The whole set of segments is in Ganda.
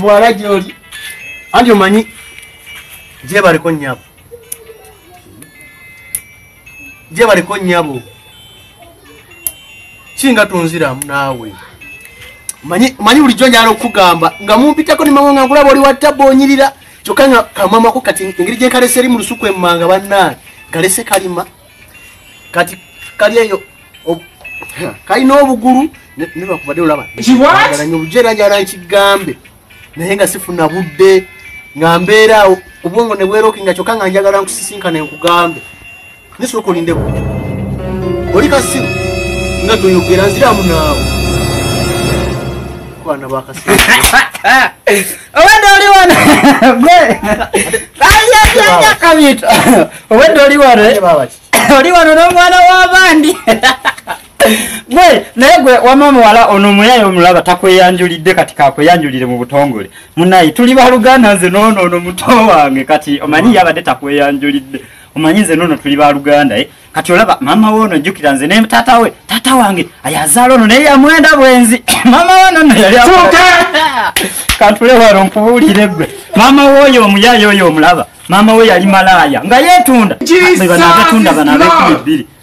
muwala gyoli anti omanyi gyebaliko nyabo gyebaliko nyabo singa tunziramu naawe manyi bulijjo njala okugamba nga mumpitako nimawanga nkulaba oli watta bonyirira kyokka nga kamamako kati engeri gyenkalese eri mu lusuku emmanga bannaani kalese kalima kati kali eyo kalina obugulu nebakubadde olaba obujerajala nkigambe naye nga sifuna budde nga mbeeraawo obwongo nebwerokinga kyokka nga njagala nkusisinkana enkugambe Naye soka olinde ku. Oli kasiru nga toyogera nziramu naawe. Kwana ba kasiru. Owedde oli wano. Ayi ayi ayi akabito. Owedde oli wano. Eh? Oli wano n'omwana w'abandi. gwe naye gwe wama omuwala ono omuyaye omulaba takweyanjulidde kati kakweyanjulire mu butongole munaye tuli baluganda nze noono ono muto wange kati omanyi yabadde takweyanjulidde omanyi nze nono tuli baluganda eh? kati olaba mama we ono jjukira nze ne taata we taata wange ayazaala ono naye yamwenda bwenzi mama we nono yali kantule wano nkubuulire gwe mama we oyo omuyaayo oyo omulaba mama we yali malaaya nga yeetunda banaabetunda banaabekumi bbiri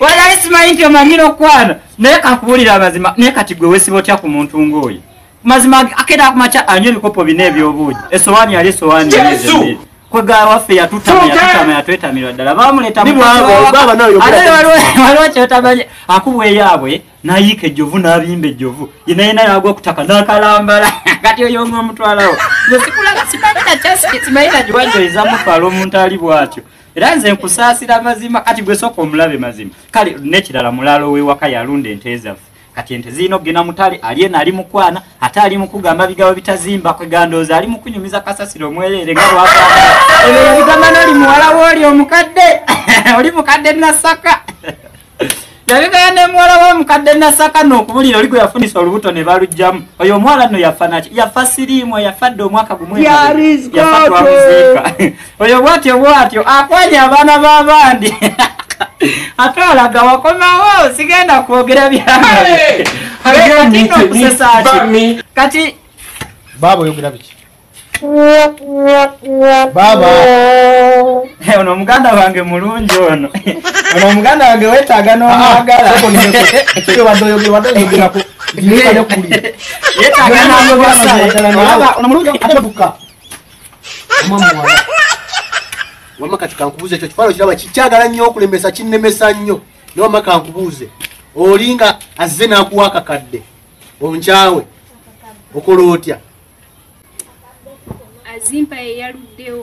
walayi simanyi nti omanyira okukwana naye kakubuulira amazima naye kati gwe wesiba otya ku muntu ng'oyo mazima akera kumakya anywa ebikopo bina ebyobuugi esowaani yali esowaani kwegala waffe yatutama yatwetamirwa ddala bamuleeta waliwo kyotamanyi akubweyaabwe nayiika ejjovu nabimba ejjovu yenayena yagwa kutaka nakalambala kati oyo nga omutwalawo simaninakiwajoezamutwala omuntu ali bwatyo era nze nkusaasira mazima kati gwesoka omulabe mazima kale nekirala mulaalo wewaka yalunda ente ezaffe kati ente zirina okugenda mutale alyena ali mukwana ate ali mukugamba bigabo bitazimba kwegandooza ali mukunyumiza kasasiro omwereere nga bwagamba ebyo yabigamba noli muwala wooli omukadde oli mukadde nasaka yabigaya nemuwala wa mukadde nasaka nokubulira oli gweyafunisa olubuto ne balugjamu oyo omuwala no yafa naki yafa siriimu yafa dde omwaka gumuyafadwamuziika oyo bwatyo bwatyo akwanya abaana b'abandi ate olaga wakomawo sigenda kwogera byaokusesaki kati baaba oyogera biki baaba eh, ono muganda wange mulungi ono ono muganda wange wetaaga n'omwagalaonomuwama kati kankubuuza ekyo kifaano kiraba kikyagala nnyo okulemesa kinnemesa nnyo newama kankubuuze olinga azze n'akuwa akakadde onkyawe okola otya azimpa yeyaluddewo